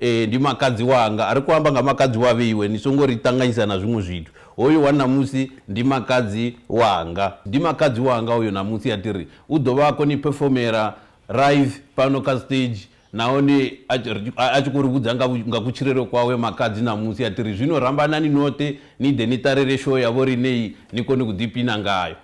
Ee, ndi makadzi wanga. Ri khou amba nga makadzi wa vheiwe, ni songo ri ṱanganyisa na zwiṅwe zwithu. Hoyu wa ṋamusi ndi makadzi wanga. Ndi makadzi wanga hoyo ṋamusi, a tiri u ḓo vha a khou ni phefomela live fhano kha stage nahone a tshi ri, a tshi khou ri vhudza nga nga kutshilele kwawe makadzi ṋamusi a tiri zwino rambanani noṱhe ni ḓe ni ṱalele show ya vho riṋe iyi ni kone u ḓipina ngayo.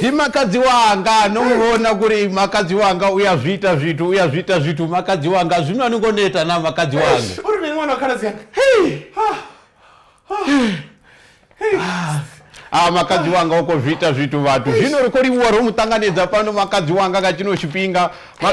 hi makadzi wanga no muvona ku ri makadzi wanga u ya zwi ita zwithu u ya zwi ita zwithu makadzi wanga zwino a ni ngo neta na makadzi wanga u ri mini n'wana wa khaladzi yanga a makadzi wanga u khou zwi ita zwithu vhathu zwino ri khou livhuwa ro mu ṱanganedza fhano makadzi wanga nga tshino tshifhinga Ma-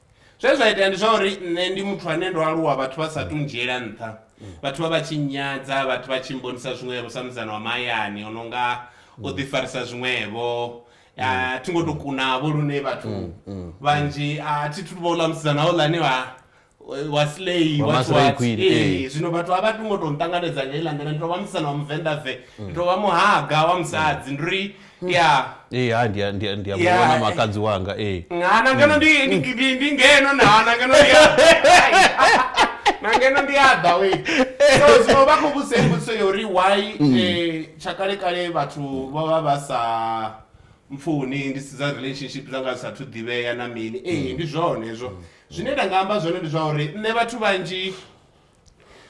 zwe zwa itea ndi zwa uri nṋe ndi muthu ane ndo aluwa vhathu vha sa tu ndzhiela nṱha vhathu vha vha tshi nyadza vhathu vha tshi mbonisa zwiṅwevho sa mudzana wa mahayani o no nga o ḓifarisa zwiṅwevho a thi ngo to kunavho lune vhathu mm, mm, vhanzhi a thi thu vhouḽa musidzana houḽani wa wa slay wa swat eh, eh. zwino vhathu a vha tu ngo tou nṱanganedza nga iḽa nḓila ndi tou vha musana wa muvenḓa ve mm. ndi tou vha muhaga wa musadzi ndi ri ya ee ha ndi a- ndi a- ndi a Ya, muvhona eh. makadzi wanga ee ngana ngeno ndi ndi- ndi- ndi ngeno nana ngeno ndi ya- na ngeno ndi aḓa we so zwino vha khou vhudzisa i mbudziso ya uri why eh, tsha kale kale vhathu vha vha vha sa mpfuni ndi si dza relationship dza nga sathu ḓivhea na mini ee ndi zwone hezwo zwine nda nga amba zwone ndi zwa uri nṋe vhathu vhanzhi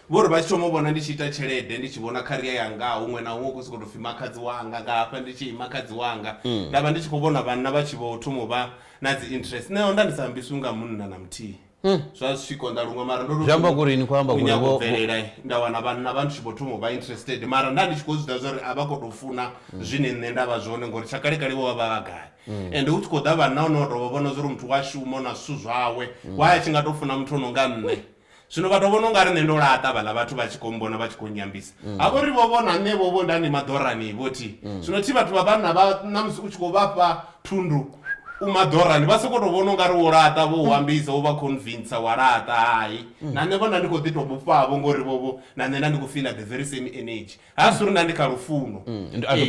Vho ri vha tshi thoma u vhona ndi tshi ita tshelede ndi tshi vhona kharia yanga huṅwe na huṅwe u khou sokou tou pfhi makhadzi wanga nga hafha ndi tshi makhadzi wanga mm. nda vha ndi tshi khou vhona vhanna vha tshi vho thoma u vha na dzi interest nṋe onda ndi sa ambiswi nga munna na muthihi mm. zwa zwi tshi konḓa luṅwe mara ndozwiamba kurini khou amba kurinyaga u bvelela nda wana vhanna vha ndi tshi vho thoma u vha interested mara nda ndi tshi khou zwi ḓa zwa uri a vha khou tou funa mm. zwine nṋe nda vha zwone ngori tsha kalekale vho vha vha vha gai Mm. ende u tshi khou ḓa vhanna o no tovha vhona zwa uri muthu wa shuma o na zwithu zwawe mm. wa a tshi nga tou funa muthu o no nga nṋe Zwino vha tou vhona u nga ri nṋe ndo laṱa vhaḽa vhathu vha tshi khou mbona vha tshi khou nnyambisa. Ha vho ri vho vhona nṋe vho vho nda ni maḓorani vho thi. Zwino thi vhathu vha vhanna vha na musi u tshi khou vha fha thundu u maḓorani vha sokou tou vhona u nga ri wo laṱa vho u ambisa u vha convincer wa laṱa hai. Na nṋe vho nda ndi khou ḓi tou vhofhavho ngori vho vho na nṋe nda ndi khou fiḽa the very same energy. Ha dzuli na ndi kha lufuno.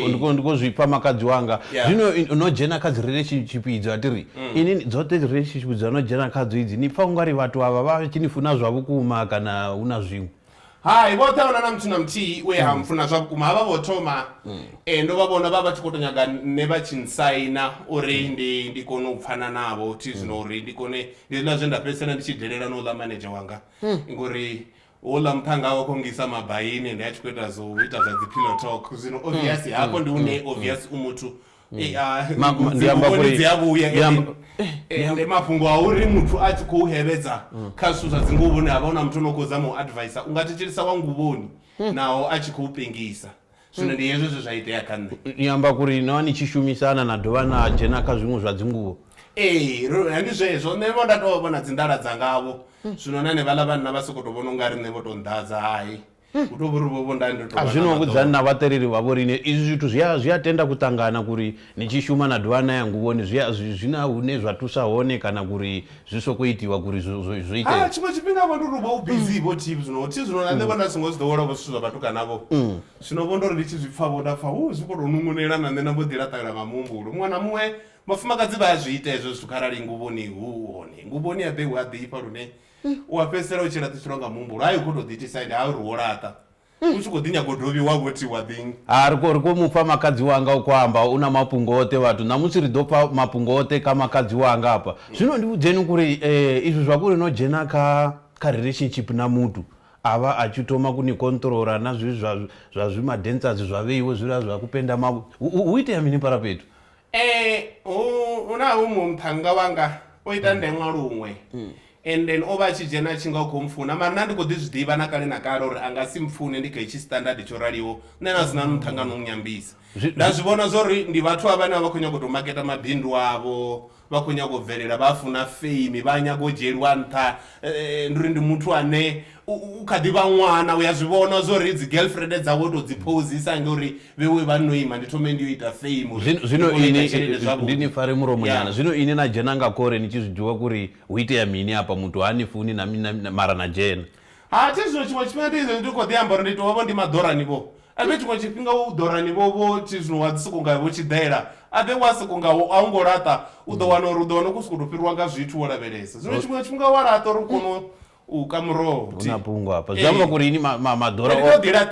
Ndiko ndiko zwipfa makadzi wanga zwino no dzhena kha dzi relationship idzo a tiri ini dzoṱhe dzi relationship dza no dzhena kha dzo idzi ni pfa ungari vhathu avha vha tshi ni funa zwa vhukuma kana hu na zwiṅwe Hai vhoṱhe ahuna na muthu na muthihi we ha mfuna zwa vhukuma havha vho thoma ndo vha vhona vha vha tshi kho to nyaga nṋe vha tshi nsaina uri ndi ndi kone u pfhana navho thi zwino uri ndi kone ndi hezwiḽa zwe nda fhedzisela ndi tshi delela na u ḽa manedzhe wanga ngori Houḽa muphanga o kongisa mabaini ndi a tshi khou ita zwo ita zwa dzi pillow talk zwino mm. obvious mm. hafho ndi hune mm. obvious u muthu eh, ah, ndi amba uri dzi a vhuya eh, ndi mafhungo a uri muthu a tshi khou hevhedza kha zwithu zwa dzi nguvhoni havha una muthu no khou zama u advice unga thetshelisa wa nguvhoni naho a tshi khou pengisa Zwino ndi hezwo zwe zwa itea kha nṋe. Ni amba kuri no vha ni tshi shumisana na dovha na dzhena kha zwiṅwe zwa dzinguvho? Ee, ro, ndi zwezwo. Nṋe vho nda tou vha vho na dzindala dzangavho. Zwino na henevhaḽa vhanna vha soko tou vhona ungari nṋe vho tou nḓadza, hai. Hu tou vhori vho vho nda ndo tou A vha na zwino maḓolo. vhudzani na vhaṱereli vha vhoriṋe, izwi zwithu zwi a, zwi a tenda ku ṱangana kuri Ni tshi shuma na dovha na ya nguvhoni zwi a zwi zwi na hune zwa thusa hone kana kuri zwi soko itiwa kuri zwi zwi zwi ite. Hai tshiṅwe tshifhinga vho ndi uri vho u bizi vho thi zwino thi zwino na nṋe vho nda songo zwi ḓowela vho zwithu zwa vhatukana vho zwino vho ndori ndi tshi zwi pfha vho nda pfha hu zwi kho to nungunela na nṋe na mbo ḓi laṱalelwa nga muhumbulo muṅwe na muṅwe vhafumakadzi vha a zwi ita hezwo zwithu kharali nguvhoni hu hone nguvhoni ya ḓe hu a ḓifha lune u a fhedzisela u tshi laṱiselwa nga muhumbulo hai u kho to ḓi itisa ende ha uri wo laṱa. u tshi khou ḓi nyaga u dovhi wa vho tiwa thing. Ha ri khou ri khou mufha makhadzi wanga u khou amba u na mafhungo oṱhe vhathu ṋamusi ri ḓo pfa mafhungo oṱhe kha makhadzi wanga hafha zwino ndi vhudzeni kuri eh izwi zwa kuri no dzhena kha kha relationship na muthu avha a tshi thoma ku ni controller na zwi zwa zwa zwi ma dancers zwa vheiwe zwiḽa zwa ku penda mavhu hu itea mini paraphethu Hu na huṅwe muṱhannga wanga o ita ndeṅwa luṅwe mm. and then o vha a tshi dzhena a tshi nga u khou mpfuna mara nṋe ndi khou ḓi zwi ḓivha na kale na kale uri a nga si mpfune ndi kha hetshi standard tsho raliho nṋe na zwi na muṱhangano u nyambisa nda zwi vhona zwa uri ndi vhathu a vhane a vha khou nyaga u tou maketa mabindu avho vha khou nyaga u bvelela vha funa fame vha nyaga u dzhieliwa nṱha eh, eh, ndi uri ndi muthu ane u kha ḓi vha ṅwana u ya zwi vhona zwo ri dzi girlfriend dzawe u tou dzi phozisa nge uri vhewe vha no ima ndi thome ndi yo ita fame zwino inindi ni fare mulomo nyana zwino ini na dzhena nga kore ni tshi zwi ḓivha kuri hu itea mini hapa muthu ha ni funi na mara na dzhena ha thi zwino tshiṅwe tshifhinga ndi izvo ndi khou ḓi amba uri ndi tou vha vho ndi maḓorani vho ave tshiṅwe tshifhinga u ḓorani vho vho thi zwino wa ḓi soko nga vho tshi ḓela ave wa soko nga wo a u ngo laṱa u ḓo wana uri u ḓo wana u khou sokou tou fhiriwa nga zwithu wo lavhelesa zwino tshiṅwe tshifhinga wa laṱa uri u kono u ka muroho hu na fhungo hafha zwi amba kuri ini maḓora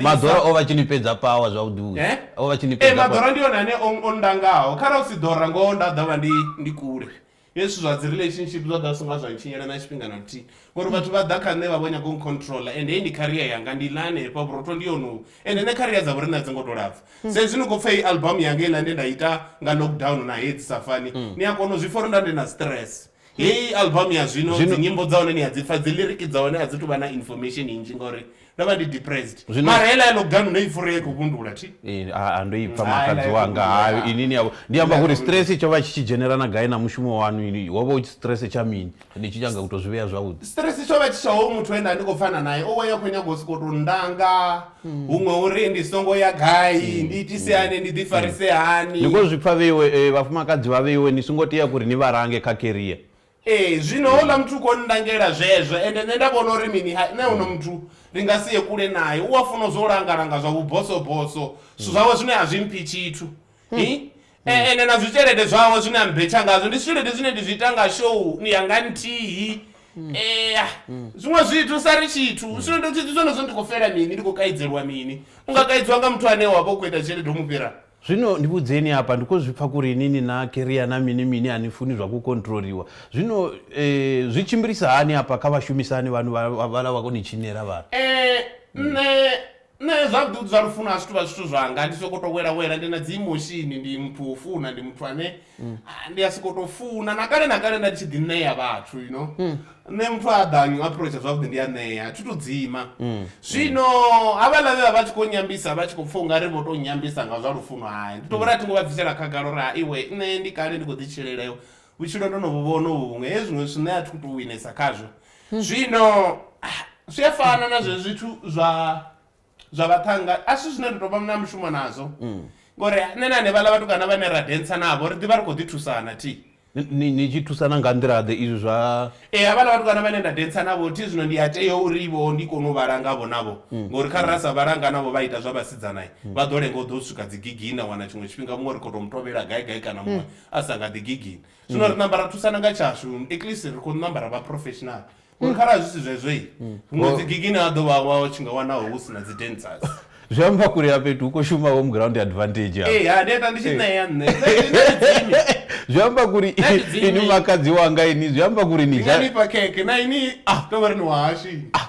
maḓora o vha tshi ni fhedza pawa zwavhuḓi eh? o vha tshi ni fhedza eh, maḓora ndi yone ane o ndangaho kharali u si ḓora ngoho nda ḓo vha ndi ndi kule hezwi zwa dzi relationship zwa ḓa songa zwa ntshinyela na tshifhinga na luthihi ngori vhathu vha ḓa kha nṋe vha vho nyaga u controla and hei ndi career yanga ndi ḽa hanefha vhurotho ndi yonowu and nṋe career dza vhorine a dzi ngo to lapfa hmm. sa izwi ni khou pfa i album yanga iḽa nde nda ita nga lockdown na hedzi safani hmm. ni a kona u zwi pfa uri nda ndi na stress heyi album ya zwino Zwino- dzinyimbo dza hone ni a dzi pfa dzi liriki dza hone a dzi tuvha na information inzhi ngauri ndo vha ndi depressed Zwino- mara heila ya loganu no i fura ye khou vhundula thi Eh, a- a ndo ipfa Hai, makadzi lai, wanga kundula. hayo ini ni yavho ndi amba Lai, kuri kundula. stress tsho vha tshi tshi dzhenerana gai na mushumo wanu ini wo vha u tshi stress tsha mini ndi tshi nyanga u to zwi vhea zwavhuḓi stress tsho vha tshi tshaho muthu enda ndi khou pfana naye owe ya khou nyanga u sokou tou ndanga huṅwe uri ndi songo ya gai mm. ndi itise mm. hani ndi ḓifarise mm. hani ni khou zwi pfa vheiwe eh, vhafumakadzi vha vheiwe ni songo tea kuri ni vha range kha keria ee eh, zwino houḽa muthu u khou nndangela zwezwo ende nṋe nda vhona uri mini nṋe uno muthu ri nga si ye kule naye u a funa zwo langalanga zwa vhubosoboso zwithu zwawe zwine a zwi mphi tshithu hmm. E, ene na zwitshelede zwawe zwine a mbetsha ngazwo ndi zwitshelede zwine ndi zwi ita nga show ni yanga nthihi ea zwiṅwe zwithu sa ri tshithu zwino ndo tshithu zwenezwo ndi khou fela mini ndi khou kaidzelwa mini u nga kaidziwa nga muthu ane wa vha u khou ita tshelede u mu fhira zwino ndi vhudzeni hapa ndi khou zwi pfa kuri inini na keria na mini mini a ni funi zwa ku kontroliwa zwino eh, zwi tshimbilisa hani hapa kha vhashumisani vhanu vha- vha- vhala vha koni tshinela vhana Eh, nṋe Nṋe zwa vhuḓi vhuḓi zwa lufuno a zwithu vha zwithu zwanga ndi soko to wela wela ndi na dzi emotion ndi muthu o funa ndi muthu ane mm. ah, ndi a soko to funa na kale na kale nda tshi ḓi ṋea vhathu you know mm. nṋe muthu a ḓanyu approach zwavhuḓi ndi a ṋea thi to dzima mm. zwino havhaḽa vhe vha vha tshi khou nyambisa vha tshi khou pfha u nga ri vho to nyambisa nga zwa lufuno hayi ndi to vhori a thi ngo vha bvisela khagala uri ha iwe nṋe ndi kale ndi khou ḓi tshileleo Vhutshilo ndo no vhu vhona uvhu vhuṅwe he zwiṅwe zwithu nṋe a thi khou tou winesa khazwo zwino ah, zwi a fana na zwe zwithu zwa zwa vhaṱhanga a si zwine ri tou vha na mushumo nazwo ngori nṋe na hanevhaḽa vhatukana vhane ra dentsa navho ri ḓivha ri khou ḓi thusana thi Ni- ni ni tshi thusana nga nḓila-ḓe izwi zwa ee havhaḽa vhatukana vhane nda dentsa navho thi zwino ndi a tea uri vho ndi kone u vhala ngavho navho ngori kha ra sa vhala nga navho vha ita zwa vhasidzana vha ḓo lenga u ḓo swika dzi gigini na wana tshiṅwe tshifhinga muṅwe ri khou tou mutovhela gai gai kana muṅwe a sa nga ḓi gigini zwino ri namba ra thusana nga tshashu at least ri khou namba ra vha professional ngori kharali zwi si zwezwoi huṅwe dzi gigini ha ḓo vha wa tshi nga wanaho hu si na dzi dancers zwi amba kule ya fhethu hu khou shuma home ground advantage ya ee ha ndi ita ndi tshi ṋea nṋe dzimi zwi amba kuri ini makadzi wanga ini zwi amba kuri ni nga ni pa keke na ini ah to vha ri ni wahashi ah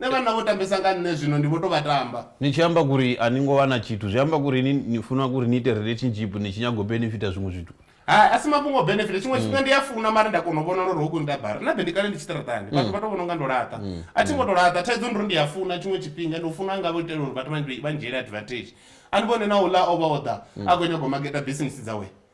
Ne vhanna vho tambesa nga nṋe zwino ndi vho to vha tamba. Ni tshi amba kuri a ni ngo vha na tshithu zwi amba kuri ni ni funa kuri ni ite relationship ni tshi nyaga u benefita zwiṅwe zwithu? Hai, a si mafhungo o benefita. Tshiṅwe tshifhinga ndi a funa mara nda kona u vhona uri ho ku nda bara. Nṋe be ndi kale ndi tshi ṱaraṱani vhathu vha to vhona unga ndo laṱa. A thi ngo to laṱa thaidzo ndi uri ndi a funa tshiṅwe tshifhinga ndi u funa nga vho itela uri vhathu vha vha ndzhiele advantage. A ni vhone na houḽa o vha o ḓa a kho nyaga u maketa bisinisi dzawe.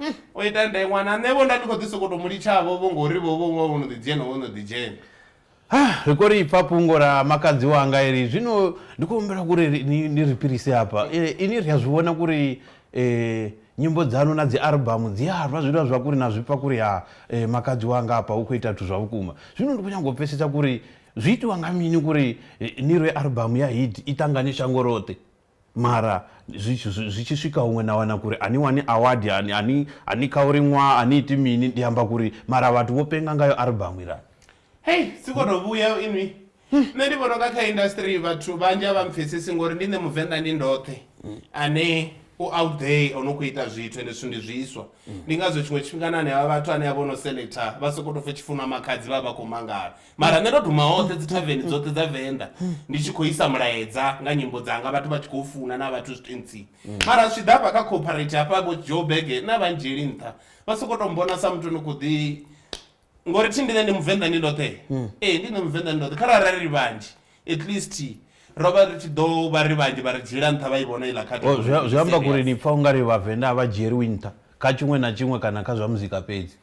mm. o ita nda ṅwana nṋe vho nda ndi khou ḓi sokoto mu litshavho vho ngori vho vho ṅwa vho no ḓi dzhena vho no ḓi dzhena Ah, ri khou ri pfa fhungo ra makadzi wanga iri zwino ndi khou humbela kuri ni ri fhirise hafha e, ini ri a zwi vhona kuri um e, nyimbo dzanu na dzi albamu dzi a rwa zwilwa zwa kuri na zwi pfa kuri ha e, makadzi wanga hafha hu khou ita zwithu zwa vhukuma zwino ndi khou nyanga u pfesetsa kuri zwi itiwa nga mini kuri ni rwe albamu ya hit i ṱangane shango roṱhe Mara zwi tshi zwi zwi tshi swika huṅwe na wana kuri ani wani award ani ani ani kha uri ṅwa ani iti mini ndi amba kuri mara vhathu vho penga ngayo album iḽa. Hei si kho to vhuya inwi nṋe ndi vhona unga kha industry vhathu vhanzhi a vha mpfhesesi ngori ndi nṋe muvenḓa ndi ndoṱhe ane u out there ono kho ita zwithu ende zwithu ndi zwiswa ndi ngazwo tshiṅwe tshifhinga na hanevha vhathu ane a vha ono selector vha soko to pfha hu tshipfi hu na makhadzi vha vha vha kho mangala mara nṋe ndo duma hoṱhe dzi thaveni dzoṱhe dza venḓa ndi tshi khou isa mulaedza nga nyimbo dzanga vhathu vha tshi khou funa na vhathu zwitentsini mara zwi ḓa hafha kha cooperate hafha vho joe bege na vhanzheli nṱha vha soko to mbona sa muthu ni khou ḓi ngori thi ndine ndi muvenḓa ndi ndoṱhe ee ndi nṋe muvenḓa ndi ndoṱhe kha rara ri vhanzhi at least ro vha ri tshi ḓo vha ri vhanzhi vha ri dzhiela nṱha vha i vhona iḽa khathi zwi amba kuri ni pfa ungari vhavenḓa a vha dzhieliwi nṱha kha tshiṅwe na tshiṅwe kana kha zwa muzika fhedzi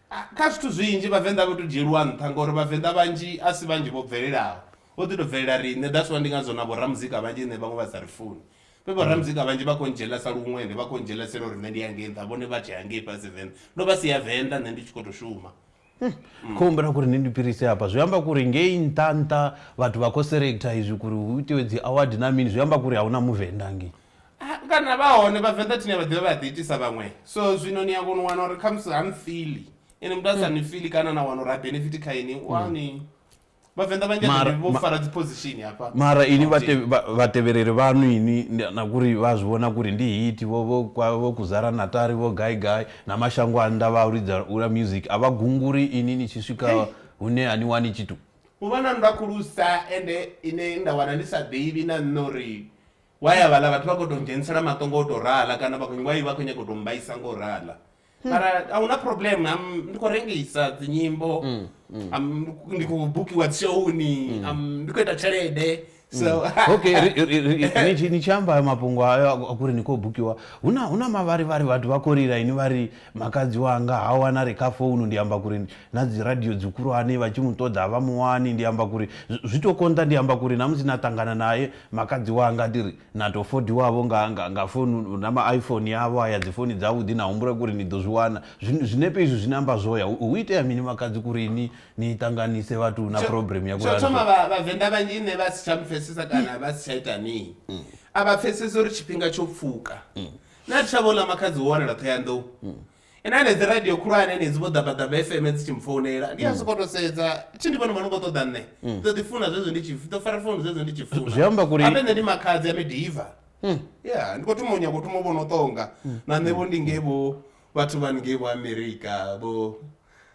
Kha zwithu zwinzhi vhavenḓa a vha to dzhieliwa nṱha ngori vhavenḓa vhanzhi a si vhanzhi vho bvelelaho vho ḓi to bvelela riṋe that's why ndi ngazwo na vhoramuzika vhanzhi nṋe vhaṅwe vha sa ri funi vhe vho ramuzika mm. vhanzhi vha khou ndzhela sa luṅwende vha khou ndzhelasela uri nṋe ndi ya ngei nṱha vhone vha tshea ngei fhasi venḓa ndo vha si ya venḓa nṋe ndi tshi khou tou shuma hmm. mm. khou humbela kuri ni ndi pirise hafha zwi amba kuri ngei nṱha nṱha vhathu vha khou selecta izwi kuri hu itiwe dzi award na mini zwi amba kuri a hu na muvenḓa ngei Ah, kana vha hone vhavenḓa thine vha ḓivha vha ḓi itisa vhaṅwe so zwino ni a kona u wana uri khamusi ha mfili ene muthu a sa ni fili kana na wana uri ha benefit kha ini wani vhavenḓa vhanzhi a Mara- ḓi vho ma- fara dzi position hafha mara ini Gauteng. vhate- vha- vhatevhereri vhanu ini ndi- na kuri vha zwi vhona kuri ndi hiti vho vho kwa- vho kuzara natari vho gai gai na mashango a nnḓa vha u lidza ula music a vha gunguri ini ni tshi swika hune a ni wani tshithu u vha na nndwa khulusa ende ine nda wana ndi sa ḓivhi na nṋe uri Why a vhaḽa vhathu vha khou tou dzhenisela maṱo ngo tou rala kana vha khou why vha khou nyaga u tou mbaisa ngo rala mara a hu na problem am ndi khou rengisa dzinyimbo am ndi khou bukiwa dzishowuni am ndi khou ita tshelede so okay ri- ri- ri- ri- ni tshi- ni tshi amba hayo mafhungo ayo a- a kuri ni khou bukiwa hu na hu na mavharivhari vhathu vha khou lila ini vha ri makadzi wanga ha wana re kha founu ndi amba kuri na dzi radio dzi khulwane vha tshi mu ṱoḓa vha mu wani ndi amba kuri zwi- zwi tou konḓa ndi amba kuri na musi na ṱangana naye Makadzi wanga ndi ri na tou fodiwavho nga, nga, nga founu, na ma iPhone avho aya, dzifoni dzavhuḓi, na humbula kuri ni ḓo zwi wana. Zwi, zwinepe izwi zwine amba zwoya, hu, hu itea mini makadzi kuri ni, ni ṱanganise vhathu na Tsho, program ya tsho kuri a ri thoma, fhedzi. vha, Vhavenḓa vhanzhi nṋe vha si tsha mpfesesa kana vha si tsha ita mini. A vha pfesesi uri tshifhinga tsho pfuka. Na ri tsha vho ḽa makhadzi wo wanala Ṱhohoyanḓou. ene anedzi radio khulwane enedzi vho ḓabaḓaba fm dzi tshi mfounela ndi a sokou to sedza tshi ndi vhone mano khou ṱoḓa nṋe ḓo ḓi funa zwezwo ndi tshi ḓo fara founu zwezwo ndi tshi funa Zwi amba kuri- ape nṋe ndi makhadzi a midiva ya ndi khou thoma u nyaka u thoma u vhono ṱonga na nṋe vho ndi ngei vho vhathu vha ngei vho amerika vho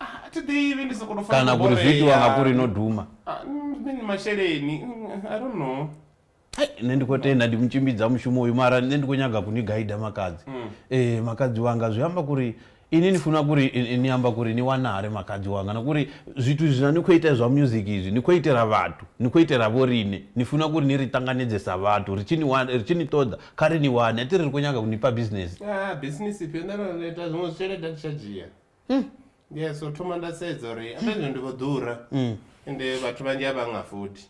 Ah, thi ḓivhi ndi soko to fana kana kuri zwi itiwa nga kuri no duma ah, mm, masheleni mm, i don't know hai nṋe ndi khou tenda ndi mutshimbidza mushumo uyu mara nṋe ndi khou nyaga kuni gaida makadzi mm. ee makadzi wanga zwi amba kuri ini ni funa kuri ni amba kuri ni wanare makadzi wanga na kuri zwithu zwina ni khou ita zwa music izwi ni khou itela vhathu ni khou itela vho rine ni funa kuri ni ri tanganedze sa vhathu ri tshi ni wana ri tshi ni ṱoḓa kha ri ni wane a ti ri ri khou nyaga ku ni fha business ah business ifhio nda ri ita zwiṅwe zwitshelede a tshi tsha dzhia hmm. yeah so thoma nda sedza uri amba zwino ndi vho ḓura hmm. ende vhathu vhanzhi a vha nga futhi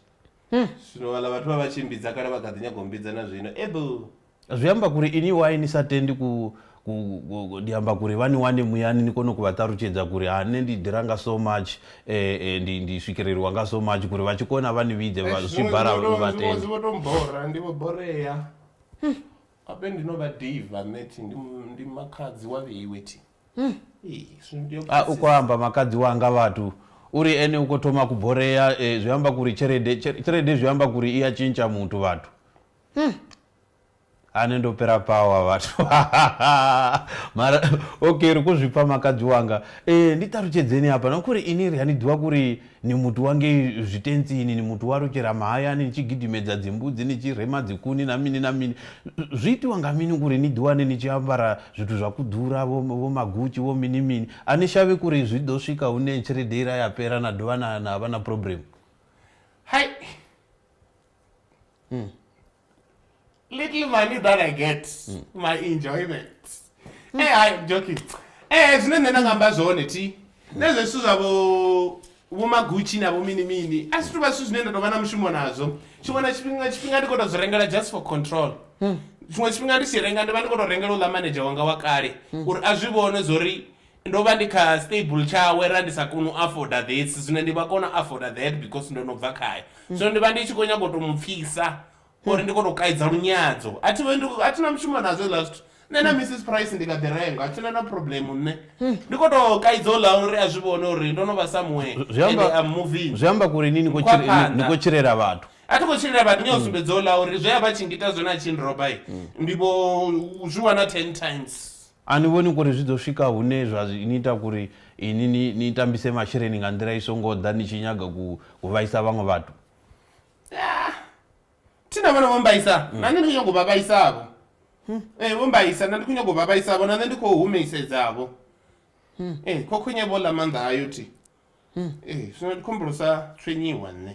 hmm. zwino vhala vhathu vha vha tshi mbidza kale vha kha ḓi nyago mbidza na zwino ebo zwi amba kuri ini wai ni sa tendi ku ndi amba kuri vha ni wane muyani ni kone ku vha ṱalutshedza kuri ha nṋe ndi ḓira nga so much eh, eh, ndi ndi swikeleliwa nga so much kuri vha tshi kona vha ni vhidze zwibara vha tendezwivotombora ndi vho borea hmm. ape ndino vha diva meti ndi makhadzi wa vheiwe ti hmm. a u khou amba makadzi wanga vhathu uri ene u khou thoma kuborea eh, zwi amba kuri tshelede tshelede zwi amba kuri i ya tshintsha muthu vhathu hmm. ane ndo pera pawa vhathu mara okay ri khou zwi pfa makadzi wanga eh, ndi ṱalutshedzeni hapa na kuri ini ri a ni ḓivha kuri Ni muti wa ngei zwitentsini, ni muti wa lutshela mahayani, ni tshi gidimedza dzimbudzi, ni tshi rema dzikuni na mini na mini. Zwi itiwa nga mini kuri ni ḓiwane ni tshi ambara zwithu zwa ku ḓura, vho, vho maGucci, vho mini mini? A ni shavhi kuri zwi ḓo swika hune tshelede ila ya fhela na dovha na, na vha na problem? Hai! Umm. little money that i get mm. my enjoyment mm. hey hayi joking eh zine nṋe nda nga amba zwone thi nezwo zwithu zwavho vhomagutshi na vhomini mini a si tuvha zwithu zwine nda tovha na mushumo nazwo tshiṅwe na tshifhinga tshifhinga ndi kho to zwi rengela just for control hmm. tshiṅwe tshifhinga ndi tshi renga ndi vha ndi kho to rengela u ḽa manager wanga wa kale hmm. uri a zwi vhone zwo ri Ndo vha ndi kha stable tshawe ra ndi sa koni u afoda this zwino ndi vha kona u afoda that because ndo no bva khae zwino ndi vha ndi tshi khou nyanga u to mu pfisa uri ndi kone u kaidza lunyadzo a thi vhe ndi a thina mushumo nazwo hezwiḽa zwithu nṋe na mrs price ndi kha ḓi renga a thina na problem nṋe ndi khou to kaidza u ḽa uri a zwi vhone uri ndo no vha somewhere Zwi- zwi amba- and I'm moving zwi amba kuri ni ni khou Kwa tshile- ni- ni phanḓa. khou tshilela vhathu a thi khou tshilela vhathu ni a sumbedza u ḽa uri zwe a vha tshi ngita zwone a tshi nroba i ndi vho zwi wana ten times A ni vhoni kuri zwi ḓo swika hune zwa ni ita kuri inwi ni, ni tambise masheleni nga nḓila i so ngo ḓa ni tshi nyaga ku, ku vhaisa vhaṅwe vhathu? Yaa! Thi na vhone vho mmbaisa, na nṋe ndi khou nyaga u vha vhaisa-vho. Ee, vho mmbaisa, na ndi khou nyaga u vha vhaisa-vho, na nṋe ndi khou humisedzavho. Ee, khokhonye vho ḽa maanḓa ayo thi. Ee, zwino ndi khou humbula u sa tswenyiwa nṋe.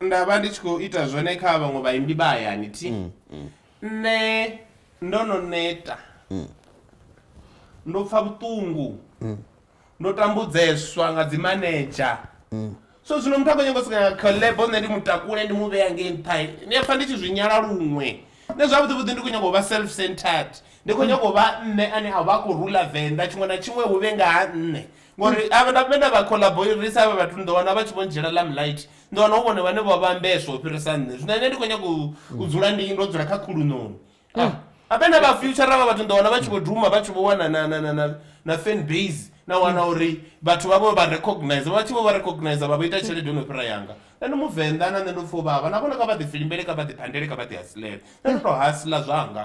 nda vha ndi tshi khou ita zwone kha vhaṅwe vhaimbi vha hayani thi mm, mm. nṋe ndo no neta mm. ndo pfa vhuṱungu ndo tambudzeswa nga dzimanedzha so zwino muthu a khou nyanga u sika collabo nṋe ndi mutakule ndi mu vhea ngei nṱha ndi a pfa ndi tshi zwi nyala luṅwe nṋe zwavhuḓi vhuḓi ndi khou nyanga u vha self centered ndi khou nyanga u vha nṋe ane a vha a khou rula venḓa tshiṅwe na tshiṅwe hu vhe nga ha nṋe ngori ave na vhena vha collaborisa avha vhathu ni ḓo wana vha tshi vho ndzhiela lam light ni ḓo wana hu vhone vhane vho vhambeswa u fhirisa nṋe zwino ine ndi khou nyanga u dzula ndi ndo dzula kha khuluṋoni ah, avhena vha future vha vhathu ni ḓo wana vha tshi vho duma vha tshi vho wana na fan base na wana uri vhathu vha vho vha recognize vha tshi vho vha recognize vha vho ita tshelede yo no fhira yanga nṋe ndi muvenḓa na nṋe ndo pfha u vhavha na vhona kha vha ḓifilimbele kha vha ḓiphandele kha vha ḓihasilela nṋe ndo tou hasila zwanga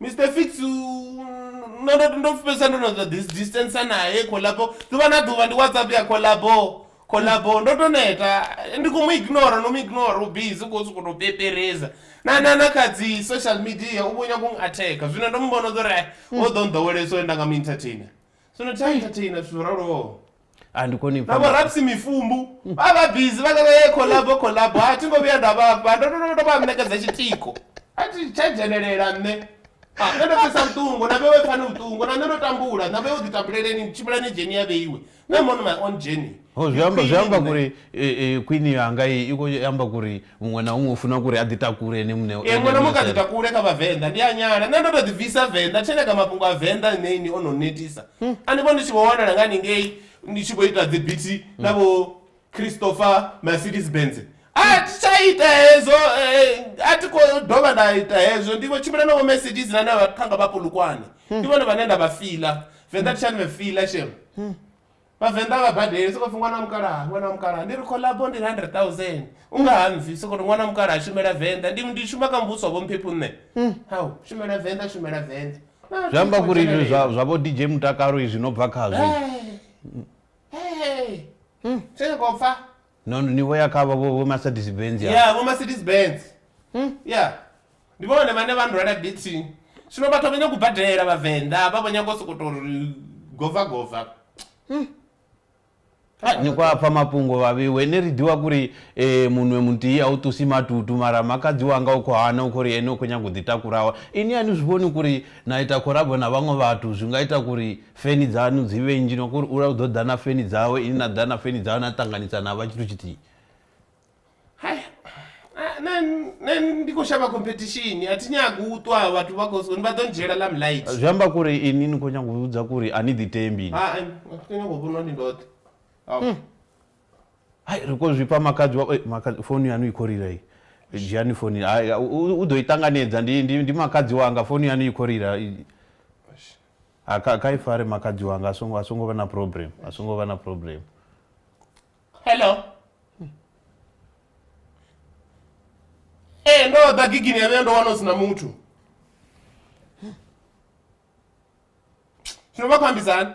mr fix ndo fesa ndo no distance naye collabo ḓuvha na ḓuvha ndi whatsapp ya collabo collabo ndo to neta ndi khou mu ignora no mu ignora u busy khou sokou tou pepereza na na na kha dzi social media u vhonya kung attack zwino ndo mu vhona uri o ḓo nḓowelesa uri nda nga mu entertainer zwino thi entertainer zwithu zwo raloho andikoni na vhorapsi mifumbu vha vha bizi vha kaka ye collabo collabo a thi ngo vhuya nda vhafha ndo ndo ndo vha ṋekedza tshitiko a thi tsha dzhenelela nṋe a nṋe ndo pfesa vhuṱungu na vhewe pfani vhuṱungu na nṋe ndo tambula na vhewe ḓitambuleleni tshimbilani dzheni ya vheiwe nṋe mona my own journey zwi amba zwi amba kuri khwini yanga i kho amba kuri muṅwe na huṅwe u funa kuri a ḓi takule ene muṋe e muṅwe na muṅwe kha ḓi takule kha vhavenḓa ndi a nyala nṋe ndo to ḓi bvisa venḓa tshene kha mafhungo a venḓa ṋe ni ono netisa hmm. a ni vho ndi tshi vho wanala nga ningei ndi tshi vho ita dzi biti hmm. na vho christopher mercedes benz a hmm. thi tsha ita hezwo eh, a thi khou dovha nda ita hezwo ndi vho tshimbila na vho mercedes na na vhathanga vha polukwane ndi vhone vhane nda vha fila venḓa tshani vhe fila shema Vhavenḓa a vha badeli sokou pfhi ṅwana wa mukalaha ṅwana wa mukalaha ndi ri collabo ndi hundred thousand u nga ha mpfhi sokou ri ṅwana wa mukalaha shumela venḓa ndi ndi shuma kha muvhuso wa vho mphephu nṋe hau shumela venḓa shumela venḓa zwi amba kuri izwi zwa zwa vho DJ mutakalo izwi no bva khazwi hey hey hey tshe kho pfa no no ni vho ya kha vho vho vho Mercedes Benz ya ya vho Mercedes Benz ya ndi vhone vhane vha ndwela bithi zwino vhathu vha nyaga u badela vhavenḓa vha vho nyaga u sokoto ri gova gova Ha, ni kwa pfa mafhungo vhavhiwe ne ri ḓiwa kuri eh, munwe muthihi a u tusi matutu mara makadzi wanga u khou hana u khou ri ene u khou nyaga u ḓitakurawa ini a ni zwi vhoni kuri na ita khorabo na vhaṅwe vhathu zwi nga ita kuri Feni dzaṋu dzi vhe nnzhi, no kuri ula u ḓo ḓa na feni dzawe, inwi na ḓa na feni dzawe na ṱanganisa na vha tshithu tshithihi. Hai, nṋe nṋe ndi khou shavha competition, a thi nyagi u ṱwa vhathu vha khou sokou vha ḓo ndzhiela lamlight. Zwi amba kuri inwi ni khou nyanga u vhudza kuri a ni ḓitembi inwi? Hai, a thi khou nyanga u vhonwa ndi ndoṱhe. Au. Hai, ri khou zwifha makhadzi wa, ei makhadzi founu yaṋu i khou rira iyi. Dzhiani founu, hai u ḓo i ṱanganedza ndi ndi ndi makhadzi wanga founu yaṋu i khou rira. Eish. A ka, ka i fare makadzi wanga a songo a songo vha na problem a songo vha na problem hello ee eh, ndo ḓa gigini ya vhuya ndo wana u si na muthu zwino vha khou ambisani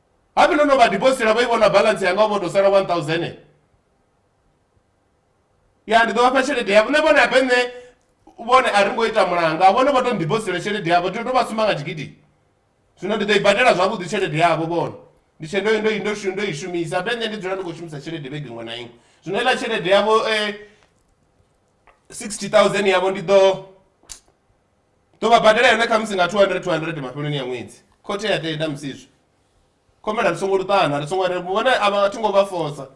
Habe no no vha dibositela vha i vhona balance yanga vho to sala 1000 ya ndi ḓo vha fha tshelede yavho nṋe vhone habe nṋe vhone a ri ngo ita mulanga vhone vho to ndibositela tshelede yavho ndi to vha suma nga tshigidi zwino ndi ḓo i badela zwavhuḓi tshelede yavho vhone ndi tshe ndo ndo ndo ndo i shumisa habe nṋe ndi dzula ndi khou shumisa tshelede vhege iṅwe na iṅwe zwino iḽa tshelede yavho eh 60000 yavho ndi ḓo ḓo vha badela yone khamusi nga 200 200 mafheloni ya ṅwedzi khothe ya tenda musizwi khomela ri songo luṱana ri songo vhone a vha thi ngo vha fosa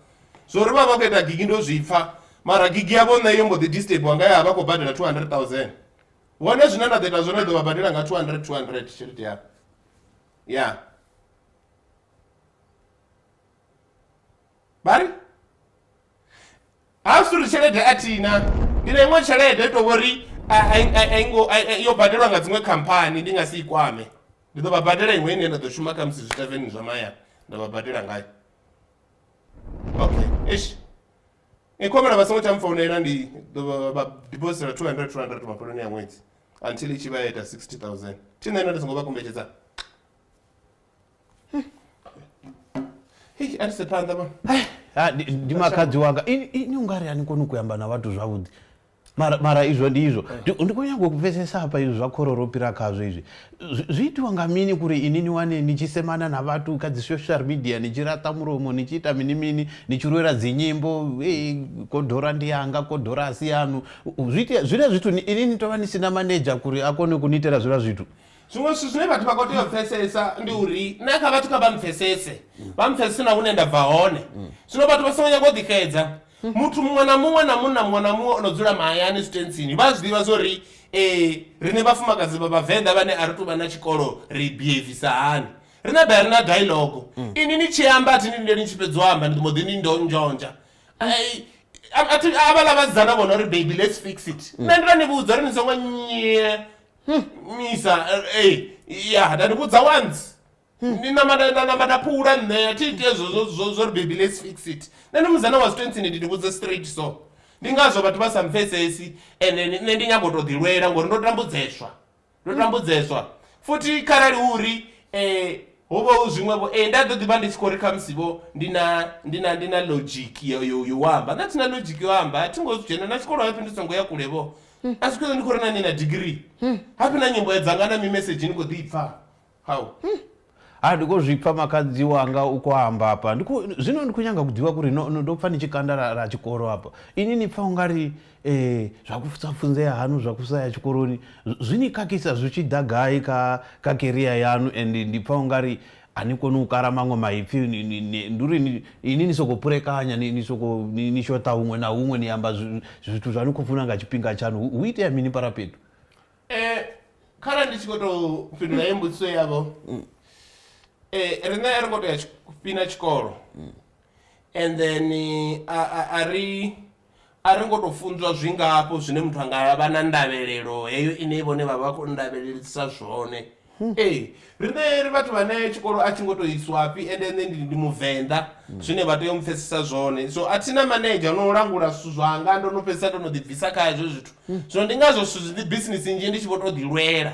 zwo ri vha vha khou ita gigi ndo zwi pfha mara gigi yavho nṋe yo mbo ḓi disturbiwa nga ya vha khou badela 200 000 vhone zwine nda ḓo ita zwone ḓo vha badela nga 200 200 tshelede yavho ya vha ri Ha zwi uri tshelede a thina ndi na iṅwe tshelede to vhori yo badelwa nga dziṅwe khamphani ndi nga si i kwame ndi ḓo vha badela iṅwe ine nda ḓo shuma kha musi zwitaveni zwa mahayani nda vha badela ngayo okay ish i khomela vha songo tsha mfounela ndi ḓo vha dibositela 200 200 mafheloni ya ṅwedzi until i tshi vha ya ita 60000 thi nṋe nda ndi songo vha kombetshedza Hei, a ri se phanḓa mama Ai, ha, ndi- ndi makadzi wanga ini ini u nga ri a ni koni ku amba na vhathu zwavhuḓi mara mara izwo ndi izwo Ndi- ndi khou nyanga u pfesesa hafha izwi zwa khoro ro fhira khazwo izwi Zwi- zwi itiwa nga mini kuri ini ni wane ni tshi semana na vhathu kha dzi social media ni tshi raṱa mulomo ni tshi ita mini mini ni tshi lwela dzinyimbo ei kodora ndi yanga kodora a si yanu U- zwi itea- zwiḽa zwithu ni- ini ni tovha ni sina maneja kuri a kone ku ni itela zwiḽa zwithu Zwiṅwe zwithu zwine vhathu vha khou tea u pfesesa ndi uri na kha vhathu kha vha mpfesese vha mpfesese na hune nda bva hone zwino vhathu vha songo nyanga u ḓixedza muthu muṅwe na muṅwe na munna muṅwe na muṅwe o no dzula mahayani zwitentsini vha a zwi ḓivha zwa uri um riṋe vhafumakadzi vha vhavenḓa vhane a ri tu vha na tshikolo ri behavisa hani ri na ḓa ri na dialogo ini ni tshi amba a thi ni lindeli ni tshi fhedza u amba ndi mbo ḓi ni ndo nzhonzha Ai, a- a thi- avhaḽa vhasidzana vho no ri baby let's fix it nṋe ndi to ni vhudza uri ni songo nye misa eh, eh, ya ndandivudza once ndinamata ndanamata pfuula nṋe athi ite zwo- zwo- zwo- zwo ri baby let's fix it nṋe ndi muzana wa zwitontsini ndindivhudza straight so ndi ngazwo vhathu vha sa mpfesesi and then nṋe ndi nyambo to ḓilwela ngori ndo tambudzeswa ndo tambudzeswa futhi kharali uri eh, ho vha hu zwiṅwevho eh, nda ḓo ḓivha ndi tshi khou ri khamusivho ndi na ndi na ndi na logic yo yo yo amba nda thi na logic yo amba a thi ngo zwi dzhena na tshikolo hapfi ndi songo ya kulevho hmm. asi kuyo ndi khou ri na ni na degree hmm. hapi na nyimbo yadzanga na mimesage ni khou ḓi pfa how hmm. ha ndi khou zwi pfa makhadzi wanga u khou amba hapa zwino ndi khou nyanga kuḓivha kuri ndo pfa ni tshi kanda ra tshikolo hapa ini ni pfa u nga ri um zwa kusa pfunzea hanu zwa kusa ya tshikoloni zwi ni khakhisa zwi tshi ḓa gai kha kha keriya yanu and ndi pfa u nga ri A ni koni u kala maṅwe maipfi, ndi uri inwi ni sokou purekanya, ni sokou ni shoṱa huṅwe na huṅwe, ni amba zwithu zwa ni khou funa nga tshifhinga tshaṋu. Hu itea mini Parapedu? Kharali ndi tshi khou tou fhindula heyi mbudziso yavho, riṋe a ri ngo tou ya fhina tshikolo and then a ri. A ri ngo tou funzwa zwingafho zwine muthu a nga vha na ndavhelelo heyo ine vhone vha vha khou ndavhelelisa zwone. Ee, riṋe ri vhathu vhane tshikolo a tshi ngo tou iswafhi ende nṋe ndi ndi Muvenḓa zwine vha tea u mpfhesesa zwone. So a thi na manedzha o no langula zwithu zwanga, ndo no fhedzisa ndo no ḓibvisa kha hezwo zwithu. Zwino ndi ngazwo zwithu zwi, business nnzhi ndi tshi vho tou ḓilwela.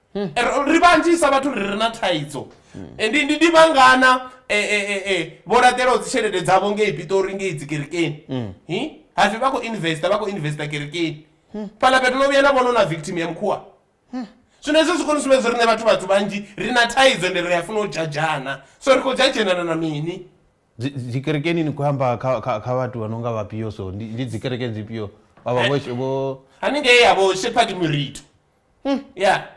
hmm. ri vhanzhisa vhathu ri re na thaidzo hmm. ndi ndi vhangana e, e, e, vho laṱelaho dzitshelede dzavho ngei pitori ngei dzikerekeni hmm. hapfi vha khou investa vha khou investa kerekeni fhaḽa fhethu no vhuya na vhono na victim ya mukhuwa zwino hezwo zwi koni sumbedza riṋe vhathu vhathu vhanzhi ri na thaidzo ndi ri a funa u dzhadzhana so ri khou dzhadzhenana na mini dzikerekeni ni khou amba kha vhathu vha no nga vhapio so ndi dzikerekeni dzipio vhavha eh. vho haningei yavho shepherd murito hmm. ya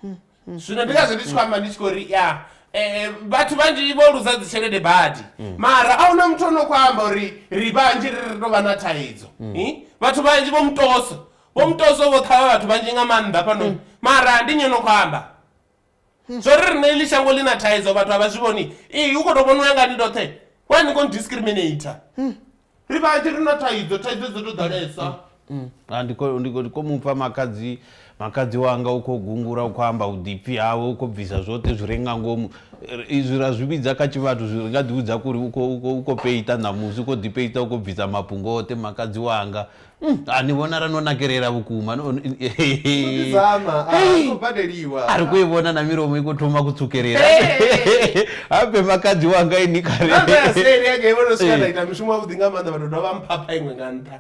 hmm, hmm. zwino ndi ngazvo ndi tshi khou amba ndi tshi khou ri ya eh, eh, vhathu vhanzhi vho luza dzi tshelede badi mara a huna muthu o no khou amba uri ri vhanzhi ri ri tou vha na thaidzo vhathu vhanzhi vho mutoso vho mutoso vho ṱhavha vhathu vhanzhi nga maanḓa fhano mara ndi nyo no khou amba Zwo ri riṋe iḽi shango ḽi na thaidzo vhathu a vha zwi vhoni ii u khou tou vhona u ya nga ni ndoṱhe wa ni khou discriminator ri vhanzhi ri na thaidzo thaidzo dzo tou ḓalesa Ah, ndi khou- ndi khou- ndi khou mupfa makhadzi makhadzi wanga u khou gungula u khou amba vhuḓipfi hawe u khou bvisa zwoṱhe zwi re nga ngomu R- izwi ra zwi vhidza kha tshivhathu zwi ri nga ḓivhudza kuri u khou- u khou- u khou peita ṋamusi u khou ḓipeita u khou bvisa mafhungo oṱhe makhadzi wanga Mm, ah, ni vhonala no nakelela vhukuma no- no- Zama, ah, Hey. no badeliwa. ari kuivona na miromo ikutoma kutsukelela Hey. habe makadzi wanga ini Namba ya kare seli yake ivono sika Eh. ndaita mushumo wavhuḓi nga maanḓa vhathu dovha mphapha iṅwe nga nṱha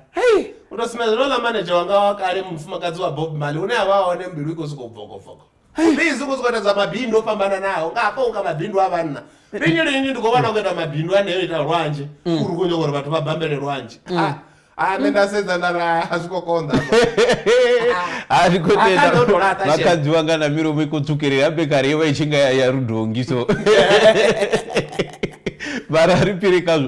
u to sumbedza nola maneja wanga wa kale mufumakadzi wa bob mali une a vha hone mbilu i khou sokou bvokobvoko bizi khou sokou ita dza mabindu o fhambananaho nga hafha unga mabindu a vhanna linyi linyi ndi khou vhona khou ita mabindu aneyo ita lwanzhe mm. uri khou nyanga uri vhathu vha bambele lwanzhe mm. ah, ah, nṋe nda sedza nda ra a zwi khou konḓa a zwi khou tendavakhadziwa nga na milomo i khou tsukelela ya bekari yo vha i tshi nga ya rudongi so vha ra ri piri khazwo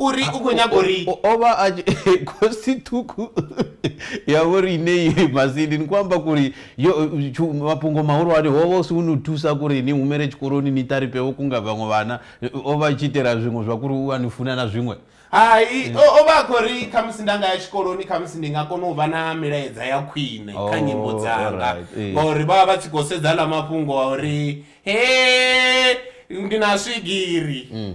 uri u khou nyaga uri o vha a khosi ṱhukhu ya vho ri ine i masindi ni khou amba kuri yo mafhungo mahulwane ho vha u si u ni thusa kuri ni humele tshikoloni ni taripe vho kunga vhaṅwe vhana o vha tshi itela zwiṅwe zwa kuri u a ni funa na zwiṅwe hai o vha a khou ri khamusi nda nga ya tshikoloni khamusi ndi nga kona u vha na milaedza ya khwine kha oh, nyimbo dzanga eh. ngauri vha vha vha tshi khou sedza ḽa mafhungo a uri he ndi na swigiri mm.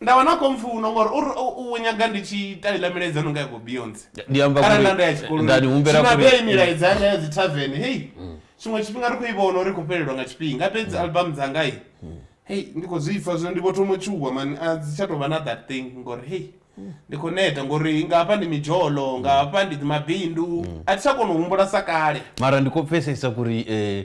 Nda vha na khompfuno ngori uri u u nyaga ndi tshi ita iḽa milaedza no nga ya vho Beyonce. Ndi amba Arali nda ndo ya kule tshikoloni. nda ni humbela Zwino kule. arali milaedza yanga ya dzi tavern hey. Tshiṅwe tshifhinga ri khou i vhona uri i khou fhelelwa nga tshifhinga fhedzi album dzanga hey. Hey ndi khou zwi pfa zwino ndi vho thoma u tshuwa mani a dzi tsha tou vha na that thing ngori hey. Ndi khou neta ngori nga hafha ndi midzholo nga hafha ndi mabindu a thi tsha kona u humbula sa kale. Mara ndi khou pfesesa kuri eh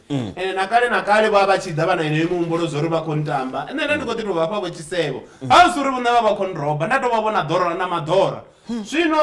mm. ende nakale nakale vha vha tshi ḓa vha na yeneyo mihumbulo zwa uri vha khou ntamba nṋe nda ndi khou ḓi tou vhafha vho tshisevho mm. a zwi uri vhone vha vha khou nroba nda tou vha vhona ḓorora na maḓora hmm. zwino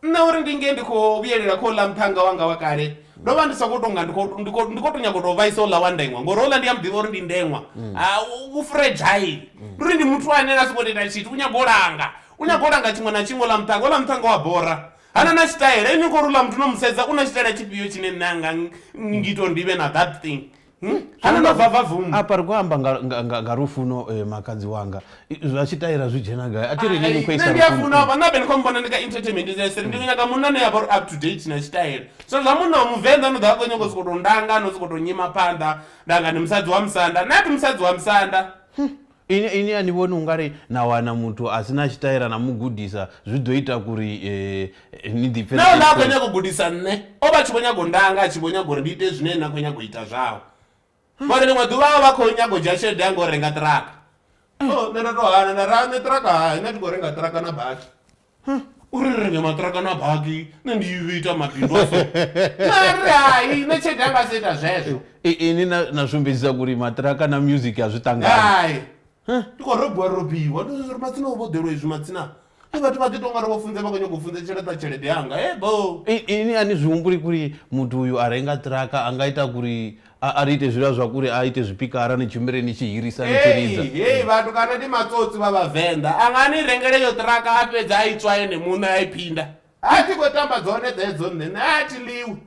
nṋe uri ndi nge ndi khou vhuyelela kha uḽa muthannga wanga wa kale ndo vha ndi sa khou tonga ndi khou to nyago tou vhaisa uḽa wa ndeṅwa ngori uḽa ndi ya muḓivha uri ndi ndeṅwa mm. ah, u fragile mm. ndi uri ndi muthu ane a si khou tenda tshithu u nyago u langa u nyago u langa tshiṅwe na tshiṅwe ḽa muṱhanga oḽa muṱhanga wa bora ha na na tshitaela ini khou rula muthu no mu sedza u na tshitaela tshifhio tshine nṋe anga ngito ndi vhe na that thing hmm? hana na vava vum apa ri khou amba nga lufuno eh, makadzi wanga zwa tshitaela zwi dzhena gai a thi ri nini khoisa ndi a funa vha na bene khou mbona ndi ka entertainment ndi seri ndi nyaka munna ne ya vha uri up to date na tshitaela so zwa munna wa muvenḓa no ḓa a khou nyanga u sokou tou ndanga no sokou tou nyima phanḓa ndanga ndi musadzi wa musanda nati musadzi wa musanda hmm. Ini, ini a ni vhoni u nga ri na wana muthu a si na tshitaela na mu gudisa zwi ḓo ita kuri ni ḓipfe ni. Nahone a khou nyaga u gudisa nṋe. O vha a tshi vho nyaga u ndanga, a tshi vho nyaga uri ndi ite zwine na khou nyaga u ita zwao. Ngori ḽiṅwe ḓuvha o vha a khou nyaga u dzhia tshelede yanga u renga ṱiraka. Oh, nṋe nda tou hana nda ri, Nṋe ṱiraka hai, nṋe a thi khou renga ṱiraka na basi. uri ri renge maṱiraka na baki nṋe ndi vhe ita mabindu a so mari hai nṋe tshelede anga si ita zwezwo ini na sumbedzisa kuri maṱiraka na music a zwi ṱangani ndi khou robiwa robiwa ndi zwi ri matsina u vhoḓelwa izwi matsina i vhathu vha ḓi to ngari vho funze vha khou nyanga u funze tsheleta tshelede yanga e bo ini a ni zwi humbuli kuri muthu uyu a renga ṱiraka a nga ita kuri A a ri ite zwiḽa zwa kule, a ite zwipikara, ni tshimbile ni tshi hirisa ni tshi ridza. Hei, hei vhathu kana ndi matsotsi vha vhavenḓa, a nga ni rengela iyo ṱiraka a fhedza a i tswa ene muṋe a i phinda. Ha thi khou tamba dzone dzedzo nṋe, nṋe a thi ḽiwi,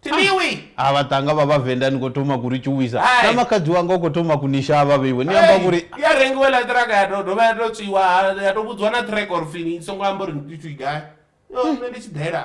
thi ḽiwi! A vhaṱhannga vha vhavenḓa ni khou thoma ku ri tshuwisa, na makhadzi wanga u khou thoma ku ni shavha vheiwe, ni amba uri. Hei, ya rengiwa iḽa ṱiraka ya tou dovha ya tou tswiwa, ya tou vhudziwa na ṱhireka uri pfi i songo amba uri ni gai, yoo nṋe ndi tshi ḓela.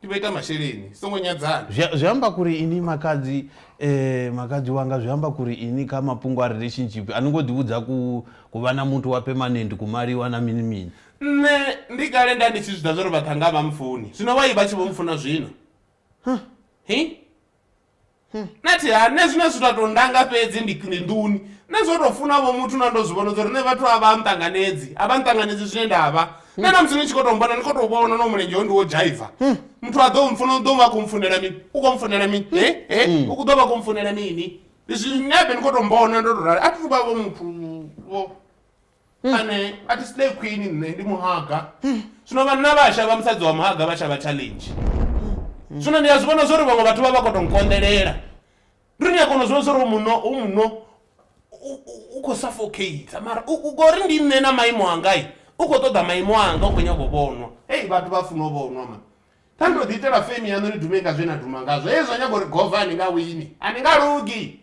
tivhoita masheleni songo nyadzana zwi amba kuri ini makadzi eh, makadzi wanga zwi amba kuri ini kha mafhungo a relationship a ni ngo ḓivhudza ku ku vha na muthu wa permanent ku maliwa na mini mini nṋe ndi kale nda ndi tshi zwi ḓa zwa uri vhaṱhanga vha mufuni zwino vha i vha tshi vho mufuna zwino hi nṋe thi ha nṋe zwine zwi tou ndanga fhedzi ndi ndi nḓuni nṋe zwo tou funa vho muthu na ndo zwi vhona uri nṋe vhathu a vha nṱanganedzi a vha nṱanganedzi zwine nda vha nṋe na musi ni tshi khou tou mbona ni khou tou vhona no mulenzhe ho ndi wo dzhaiva muthu a ḓo mfuna u ḓo vha khou mfunela mini u khou mfunela mini he he u ḓo vha khou mfunela mini zwi nṋe abe ni khou tou mbona ndo tou rali a thi thu vha vho muthu vho ane a thi slay queen nṋe ndi muhaga zwino vhanna vha shavha musadzi wa muhaga vha shavha challenge zwino ndi a zwi vhona zwori vhaṅwe vhathu vha vha kho to nkonḓelela ndi uri ni a kona u zwi vhona zwori hoyu munna hoyu munna u kho suffocater mara u ngori ndi nṋe na maimo anga u kho ṱoḓa maimo anga u kho nyaga u vhonwa hei vhathu vha funa u vhonwa mani. Kha ni to ḓi itela fame yaṋu ni dume nga zwe na duma ngazwo hezwi zwa nyaga uri gova a ni nga wini a ni nga lugi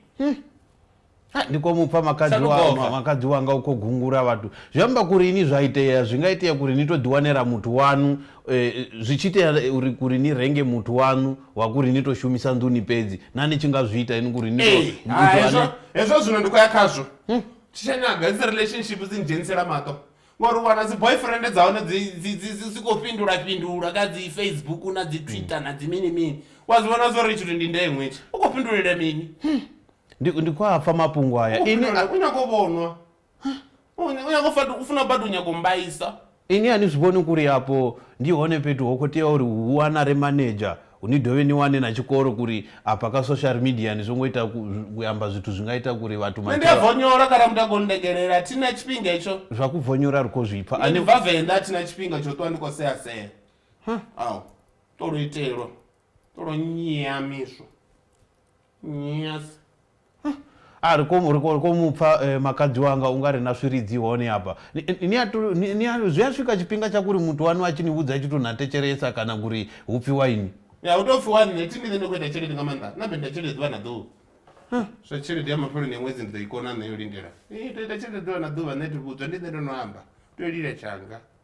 Ha, ndi khou mupfa makadzi Sa wa- lugova. ma- makadzi wanga u khou gungula vhathu zwi amba kuri ini zwa itea zwi nga itea kuri ni to ḓiwanela muthu waṋu eh, zwi tshi itea eh, uri kuri ni renge muthu waṋu wa kuri ni to shumisa nḓuni fhedzi na ni tshi nga zwi ita ini kuri ni to- Ee, muthu ha, ane- hezwo- hezwo zwino ndi khou ya khazwo tshishanyaga dzi relationship dzi ndzhenisela maṱo ngori u wana dzi boyfriend dza hone dzi- dzi- dzi- dzi si khou fhindula fhindula kha dzi facebook na dzi twitter na dzi mini mini wa zwi vhona zwo ri tshithu ndi ndeṅwe itshi u khou fhindulela mini ndi ndi khou a pfa mafhungo U aya khou ini fhindulela- u nyago vhonwa U- u nyago u fatu- u funa badi u nyago mbaisa ini a ni zwi vhoni kuri afho ndi hone fhethu ho khou tea uri hu wanare manager Ni dovhe ni wane na tshikolo kuri afha kha social media ni songo ita ku amba zwithu zwi nga ita kuri vhathu Nṋe ndi a vonyola kana muthu a khou nndegelela a thi na tshifhinga hetsho. Zwa ku vonyola ri khou zwi pfa. Nṋe ndi bva Venḓa a thi na tshifhinga tsho ṱwa ndi khou sea sea. Huh. Au. Ṱolo itelwa. Ṱolo nnyea miswo. Yes. A ri komu ri ko- ri komu pfa eh, makadzi wanga u nga ri na swiridzi hone hafha Ni- ni- ni a to- ni- ni a- zwi a swika tshifhinga tsha kuri muthu wanu a tshi ni vhudza a tshi to na tetshelesa kana kuri hu pfi waini Ya u tou pfi wani ne thimi nṋe ndi khou ita tshelede nga maanḓa na benda tshelede ḓuvha na ḓuvha zwa tshelede ya mafheloni ya ṅwedzi ndi ḓo i kona nṋe yo lindela i to ita tshelede ḓuvha na ḓuvha nṋe ti vhudzwa ndi nṋe ndo no amba tea u lila tshanga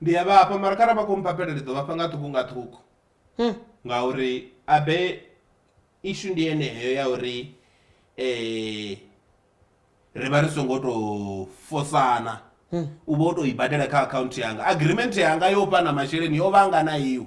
Ndi a vhafha mara kharali vha khou mpapela ndi ḓo vhafha nga ṱhukhu nga ṱhukhu ngauri abe ishu ndi yeneyo ya uri ri vha ri songo tou fosana u vha u tou i badela kha akhaunthu yanga agreement yanga yo fhana masheleni yo vha anga na iwe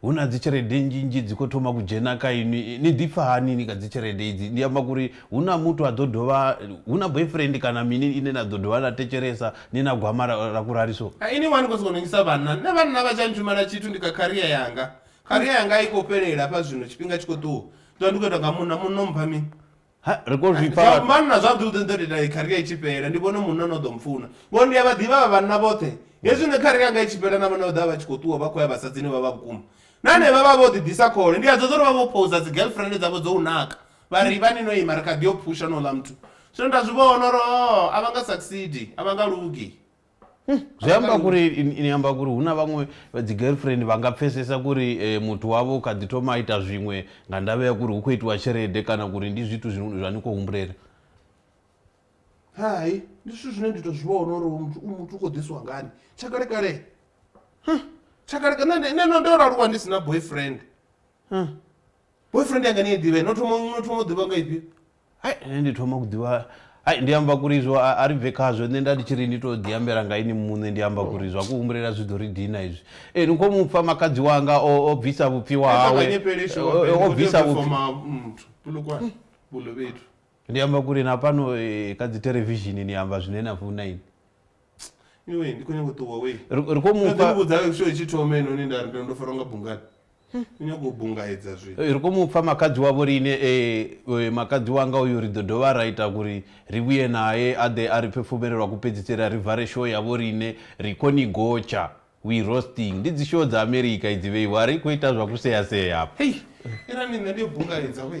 Hu na dzitshelede nnzhi nnzhi dzi khou thoma ku dzhena kha inwi ni ḓipfa hani ni kha dzitshelede idzi ndi amba kha uri hu na muthu a ḓo dovha hu na boyfriend kana mini ine na ḓo dovha na thetshelesa ni na gwama ra ku rali so. Ini wa ni khou sokou nongisa vhanna nṋe vhanna vha tsha ntshumela tshithu ndi kha career yanga career yanga a i khou fhelela hafha zwino tshifhinga tshi khou ṱuwa zwino ndi khou itwa nga munna munna u mpha mini. Ha, ri khou zwi pfa zwa vhathu. vhanna zwa ḓi u ṱoḓa ita i kharia i tshi fhela ndi vhone munna no ḓo mpfuna ngori ndi a vha ḓivha vha vhanna vhoṱhe hezwi ne kharia yanga i tshi fhela na vhone vha ḓa vha tshi khou ṱuwa vha khou ya vhasadzini vha vha vhukuma na hanevha vha vho ḓi ḓisa khole ndi a dza uri vha vho pousa dzi girlfriend dzavho dzo u naka vha ri vha ni no ima ri kha ḓi yo phusha no ḽa muthu zwino nda zwi vhona uri o a vha nga succeed a vha nga lugi Hmm, zwi amba kuri ini amba kuri hu na vhaṅwe dzi girlfriend vha nga pfesesa kuri eh, muthu wavho kha ḓi thoma a ita zwiṅwe nga ndavha ya kuri hu khou itiwa tshelede kana kuri ndi zwithu zwa ni khou humbulela hai ndi zwithu zwine ndi to zwi vhona uri muthu u muthu u khou ḓisiwa ngani tshakale kale tshakaleka nṋe ndo aluwa ndi si na boyfriend boyfriend yanga ni i ḓivhe no thoma no thoma u ḓivha nga ifhio hai nṋe ndi thoma ku ḓivha hai ndi amba kuri izwo a ri bve khazwo nṋe nda ndi tshi ri ni to ḓi ambela nga ini muṋe ndi amba kuri zwa ku humbulela zwi ḓo ri dina izwi ee ni kho mu pfa makadzi wanga o bvisa vhupfiwa hawe o bvisa vhupfiwa ndi amba kuri na fhano kha dzi televishini ni amba zwine na funa ini ndi khou nyanga u ṱuwa wei ri khou mufha vhudza sho tshi thoma ino ni nda ndo fara nga bungani u nyaga u bungaedza zwi Ri khou mu pfa makhadzi wavho riṋe e, e, makhadzi wanga uyu ri ḓo dovha ra ita uri ri vhuye nae a ḓe a ri pfe fumele lwa ku fhedziseli a ri vare show ya vho riṋe ri khou ni gotsha we roasting ndi dzi show dza America idzi vheiwa a ri khou ita zwa ku sea sea hafha. Hei irani nṋe ndi yo bungaedza we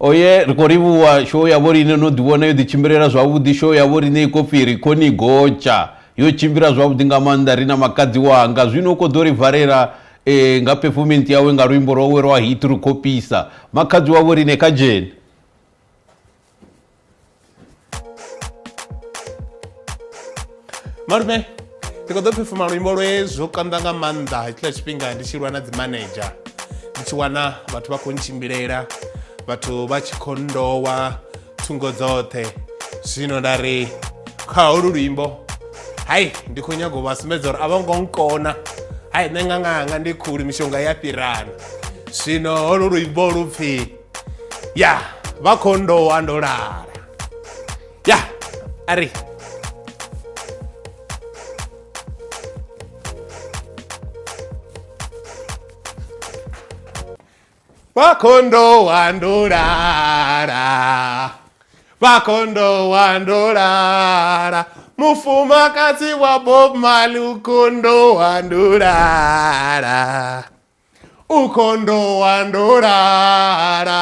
oye ri khou livhuwa show yavho riṋe no ḓivhona yo ḓitshimbilela zwavhuḓi show yavho riṋe i khou pfi ri khou ni gotsha yo tshimbila zwavhuḓi nga maanḓa ri na makadzi wanga zwino u khou ḓo ri valela e, nga performance yawe nga luimbo lwawe lwa hit ri khou pisa makhadzi wavho riṋe kha dzheni malume ndi kho ḓo phefuma luimbo lwe zwo konḓa nga maanḓa hetshiḽa tshifhinga ndi tshi lwa na dzi manager ndi tshi wana vhathu vha khou ntshimbilela vhathu vha tshi khou ndowa thungo dzoṱhe zwino nda ri kha holu luimbo hai ndi khou nyaga u vha sumbedza uri a vho ngo nkona hai nṋe nga nganga ndi khuli mishonga ya fhirana zwino holu luimbo lu pfhi ya vha kho ndowa ndo lala ya a ri vha kho ndowa ndo lala vha kho ndowa ndo lala mufumakadzi wa bob mali u kho ndowa ndo lala ukhondo wa ndolala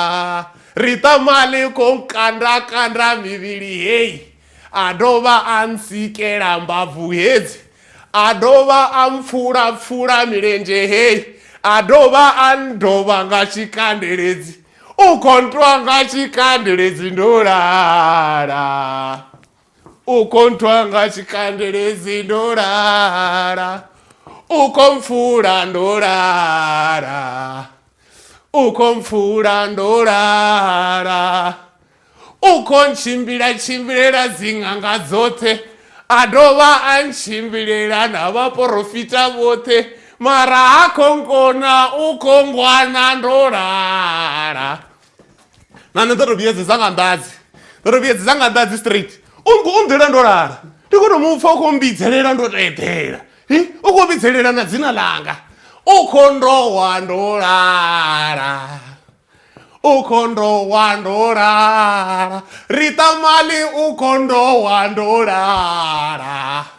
ri tamale ko nkanda kanda mivhili heyi a dovha a nsikela mbabvu hedzi a dovha a mpfula pfula milenzhe heyi a dovha a ndovha nga tshikandeledzi u khontwa nga tshikandeledzi ndolala ukonthwa nga tshikandelezi ndo lala ukomfula ndo lala ukomfula ndo lala ukontshimbila tshimbilela dziṅanga dzoṱhe a dovha a ntshimbilela na vhaporofita vhoṱhe mara ha khongona u khongwana ndo lala na nṋe ndo to vhuyedzedza nga nḓadzi ndo to vhuyedzedza nga nḓadzi straight u nḓila ndo lala ndi khou to mu pfa u khou mbidzelela ndo to eḓela u khou vhidzelela na dzina ḽanga u kho ndo wa ndo lala u kho ndo wa ndo lala ri ṱamali u kho ndo wa ndo lala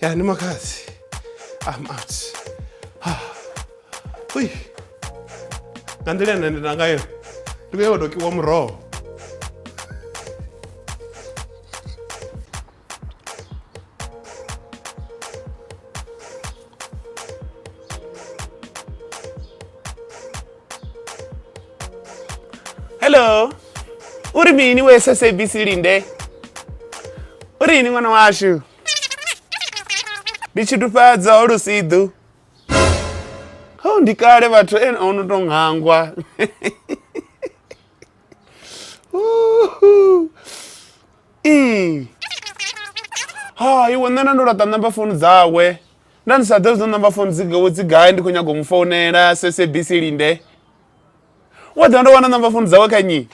ya ni makhadzi am out ah. ui nga nḓila ine ndi na ngayo ndi vhuya vhadokiwa muroho hello uri mini we sabc linde uri yini ṅwana washu ndi tshitufhadza ho lusiḓu ho ndi kale vhathu ene o no tou ngangwa Mm. ha iwe nṋe na ndo laṱa namba founu dzawe nda ndi sa ḓe zwo namba founu dzi gai ndi khou nyaga u mu founela sabc linde wo ḓa ndo wana namba founu dzawe kha nyi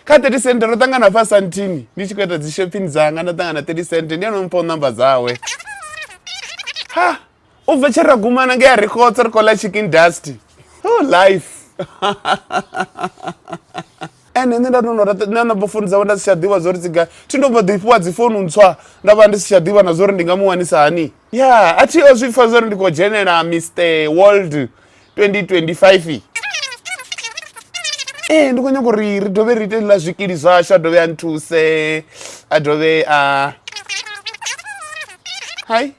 kha 30 cent ro ṱangana fa santini ndi tshi khou ita dzi shopping dzanga nda ṱangana 30 cent ndi ano mpha u namba dzawe ha u bva tshe ra gumana nge ya ri khotsa ri khou ḽa chicken dust oh life ene nṋe nda tono na namba founu dzawe nda si tsha ḓivha zwo ri tsiga thi ndo bva ḓi fhiwa dzi founu ntswa nda vha ndi si tsha ḓivha na zwo ri ndi nga mu wanisa hani ya a thi o zwi pfa zwo ri ndi khou dzhenela mr world 2025 ee eh, ndi khou nyanga uri ri dovhe ri ite ḽa zwikili zwashu a dovhe a nthuse a dovhe a hai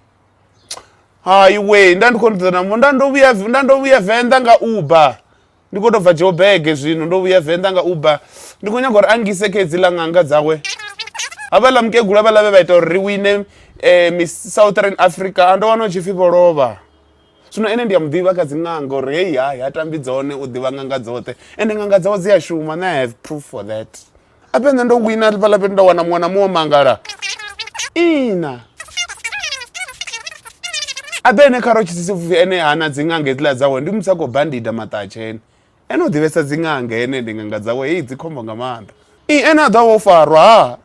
hai we nda ndi khou nda nda ndo vhuya nda ndo vhuya venḓa nga uber ndi khou tou bva jobege zwino ndo vhuya venḓa nga uber ndi khou nyaga uri a ngise kha hedziḽa ṅanga dzawe havhaḽa mukegula vhaḽa vhe vha ita uri ri wine um southern africa a ndo wana u tshi pfhi vho lovha Zwino ene ndi a muḓivha kha dziṅanga uri heyi hai ha tambi dzone u ḓivha ṅanga dzoṱhe ende ṅanga dzawe dzi a shuma and i have proof for that ape nṋe ndo wina fhaḽa fhethu nda wana muṅwe na muṅwe mangala ina abe ene kha ro tshitsisi pfufhi ene hana dziṅanga hedziḽa dzawe ndi muthu a khou bandida maṱahatshene Ene u ḓivhesa dzi ṅanga ene ndi ṅanga dzawe heyi dzi khombo nga maanḓa i ene a ḓo vha o farwa ha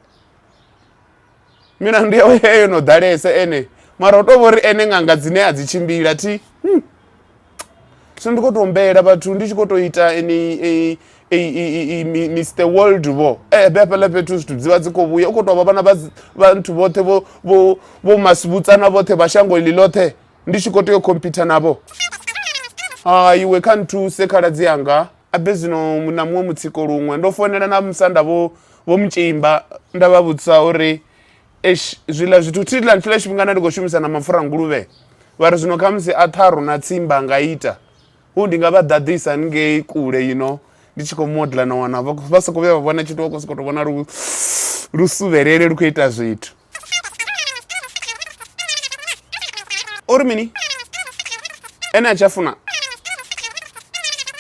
milandu yawe he yo no ḓalesa ene mara u to vhori ene ṅanga dzine a dzi tshimbila thi hmm. so ndi kho to humbela vhathu ndi tshi kho to ita ni Mr World vho eh be hafhaḽa fhethu zwithu dzivha dzi kho vhuya u kho to vha vhana vha vhathu vhoṱhe vho vho vho masibutsana vhoṱhe vha shango ḽi ḽoṱhe ndi tshi khou tea u khompitha navho ha iwe kha nthuse khaladzi anga abe zwino na muṅwe mutsiko luṅwe ndo founela na musanda vho vho mutshimba nda vha vhudzisa uri esh zwiḽa zwithu thi ḽa nthiḽa tshifhingana ndi khou shumisa na mapfura nguluvhe vha ri zwino khamusi a ṱharu na tsimba nga ita hu ndi nga vha ḓaḓisa haningei kule yino ndi tshi khou modla na wana vha soko vhuya vha vhona tshithu vha khou sokou tou vhona lu lu suvhelele lu khou ita zwithu ori mini ene a tshi a funa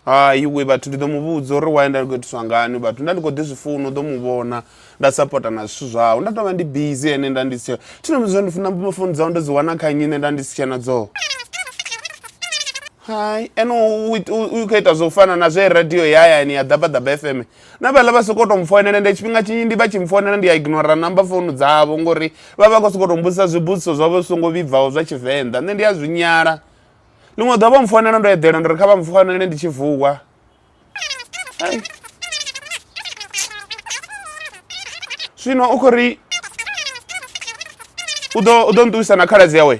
hai we vhathu ndi ḓo mu vhudza uri waye nda ndi khou itiswa ngani vhathu nda ndi khou ḓi zwi funa u ḓo mu vhona nda sapota na zwithu zwawe nda tovha ndi busy ene nda ndi si tshe thina mudza ndi funa founu dzawe ndo dzi wana kha nnyi nṋe nda ndi si tshena dzoo hai ene u khou ita zwo u fana na zwe radio ya hayani ya ḓabaḓaba fm na vhaḽa vha sokou tou mfoinela nda tshifhinga tshinzhi ndi vha tshi mfoinela ndi a ignora namba founu dzavho ngori vha vha khou sokou tou mbudzisa zwibudziso zwavho zwi songo vhibvaho zwa tshivenḓa nṋe ndi a zwi nyala ḽiṅwe ḓuvha vho mfoinela ndo eḓela ndo ri kha vha mfoinele ndi tshi vuwa zwino u khou ri u ḓo u ḓo nṱuwisa na khaladzi yawe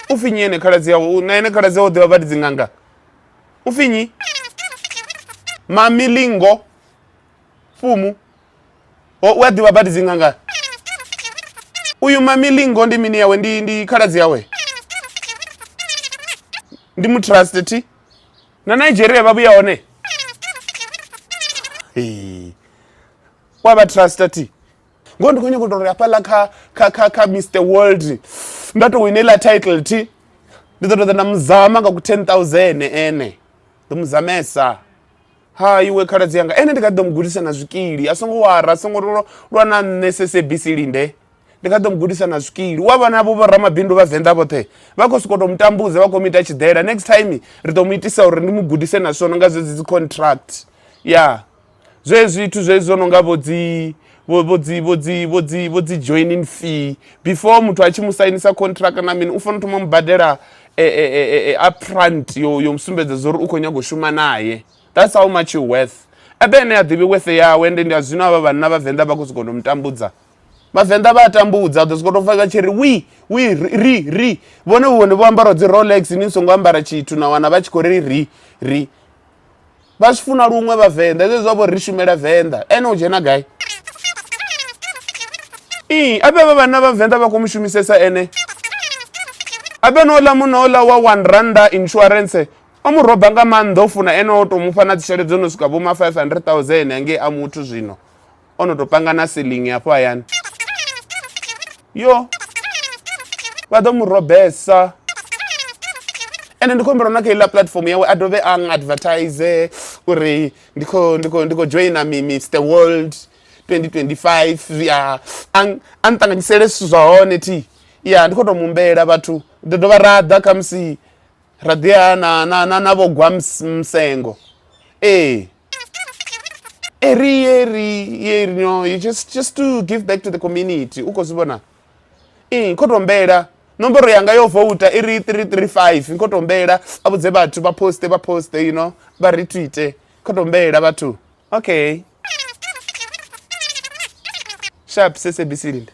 u pfhi nyi ene khaladzi yawe na ene khaladzi yawe u ḓivha vha ndi dzinganga ufinyi mamilingo fumu o u a ḓivha badi dzi nganga uyu mamilingo ndi mini yawe ndi ndi khaladzi yawe ndi mutrust thi na nigeria vha vhuya hone wa vha trust thi ngoho ndi khou nyanga u tou ri hafhaḽa kha kha kha kha mr world nda tou wina iḽa title thi ndi ḓo tou ḓa nda muzama nga ku ten thousand ene ḓo muzamesa ha iwe khaladzi yanga ene ndi kha ḓi ḓo mu gudisa na zwikili a songo wara a songo lwa na nṋe sesebisi linde ndi kha ḓo mu gudisa na zwikili u a vhona vho vho ramabindu vha venḓa vhoṱhe vha khou sokou tou mu tambudza vha khou mu ita tshiḓela next time ri ḓo mu itisa uri ndi mu gudise na swono nga zwedzi dzi contract ya yeah. zwezwi zwithu zwezwi zwo no nga vho dzi vho vho dzi vho dzi vho dzi vho dzi joining fee before muthu a tshi mu sainisa contract na mini u fanela thoma mu badela e, e, e, e, upfront yo yo musumbedza zwo uri u khou nyago shuma naye that's how much you worth ebe ene a ḓivhi worth yawe ende ndi a zwino avha vhanna vhavenḓa vha khou sokou no mutambudza vhavenḓa vha a tambudza ḓo sokou tou fa vha tshi ri wi wi ri ri vhone vhone vho ambara dzi rolex ni songo ambara tshithu na wana vha tshi khou ri ri ri vha zwi funa luṅwe vhavenḓa zwe zwa vho ri shumela venḓa ene u dzhena gai ii abe vha vhanna vhavenḓa vha khou mu shumisesa ene abe no ḽa muno ḽa wa one randa insurance o mu roba nga maanḓa o funa ene o tou mufha na dzitshelede dzo no swika vhoma 500 000 hangei a muthu zwino o no tou panga na silingi hafho hayani yo vha ḓo mu robesa ende ndi khou humbela na kha iḽa platform yawe a dovhe a advertise uri ndi khou ndi khou ndi khou joina mi mr world 2025 zwiya a nṱanganyisele zwithu zwa hone thi ya ndi khou tou mumbela vhathu ḓo dovha ra ḓa khamusi ra ḓi ya na na na na vho gwa msengo ee eri eri eri no you just just to give back to the community u khou zwi vhona ee kho tombela nomboro yanga yo vouta i ri 335 kho tombela a vhudze vhathu vha poste vha poste you know vha retweete kho tombela vhathu okay sharp sesebisi linde